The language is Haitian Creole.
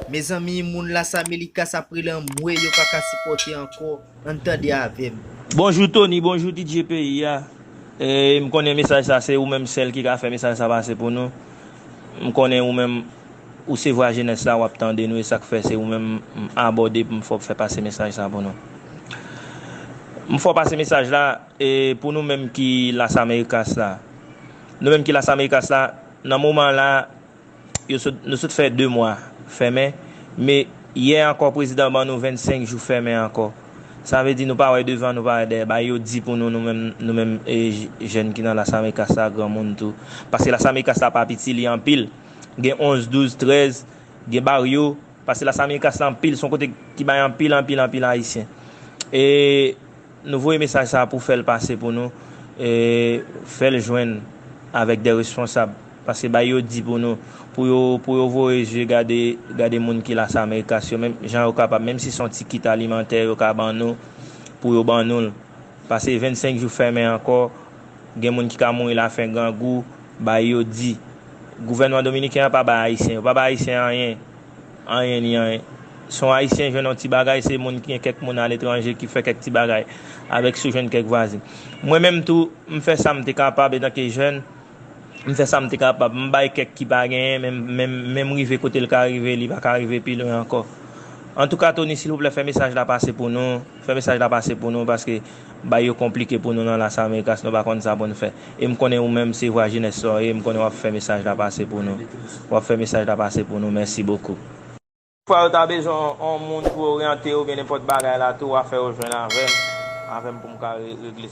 Mezanmi moun las amelicas ap rele anmwee yo paka sipote anko ann tande avem. Bonjou Tony bonjou DJ peyi a m konnen mesaj sa se ou menm sèl ki ka fè mesaj sa pase pou nou m konnen ou menm ou se vwa jenès la wap tande nou e sak fè se ou menm m abòde pou m fè w fè pase mesaj sa pou nou m fè w pase mesaj la e pou nou menm ki las americas la nou menm ki las americas la nan moman la Nou sot fè 2 mwa fèmen, me yè ankò prezidan ban nou 25 jou fèmen ankò. Sa vle di nou pa wè devan, nou pa wè dèyè. Bay yo di pou nou, nou menm, nou menm jèn ki nan Las Americas la, granmoun tou. Paske Las Americas la pa piti, li anpil. Gen 11, 12, 13, gen baryo. Paske Las Americas la anpil, son kote ki bay anpil, anpil, anpil Ayisyen. E. Nou voye mesaj sa pou fèl pase pou nou e fèl jwenn avèk dè responsab paske bay yo di pou nou pou yo pou yo voye zye gade gade moun ki las americas yo menm jan yo kapab menm si son ti kit alimantè yo ka ban nou pou yo ban noul pase 25 jou fèmen ankò gen moun ki ka mouri la fen grangou bay yo di gouvènman dominiken an pa bay ayisyen yo pa bay ayisyen anyen. Anyen ni anyen. Si yon Ayisyen jwenn yon ti bagay, se moun ki gen kèk moun aletranje ki fè kèk ti bagay avèk si w jwenn kèk vwazin. Mwen menm tou, m fè sa m te kapab etanke jèn, m fè sa m te kapab. M bay kèk ki pa genyen men men m rive kote l ka rive, li pa ka rive pi lwen ankò. Antouka Tony silvouplè fè mesaj la pase pou nou. Fè mesaj la pase pou nou paske bay yo konplike pou nou nan las americas nou pa konn sa poun fè e m konnen ou menm se vwa jenès sa w ye m konnen wap fè mesaj la pase pou nou wap fè mesaj la pase pou nou mèsi bokou. Fwa yo ta bezwen yon moun pou oryante yo byen nenpòt bagay la tou wa fè yo jwenn avèm avèm poum ka regle sa.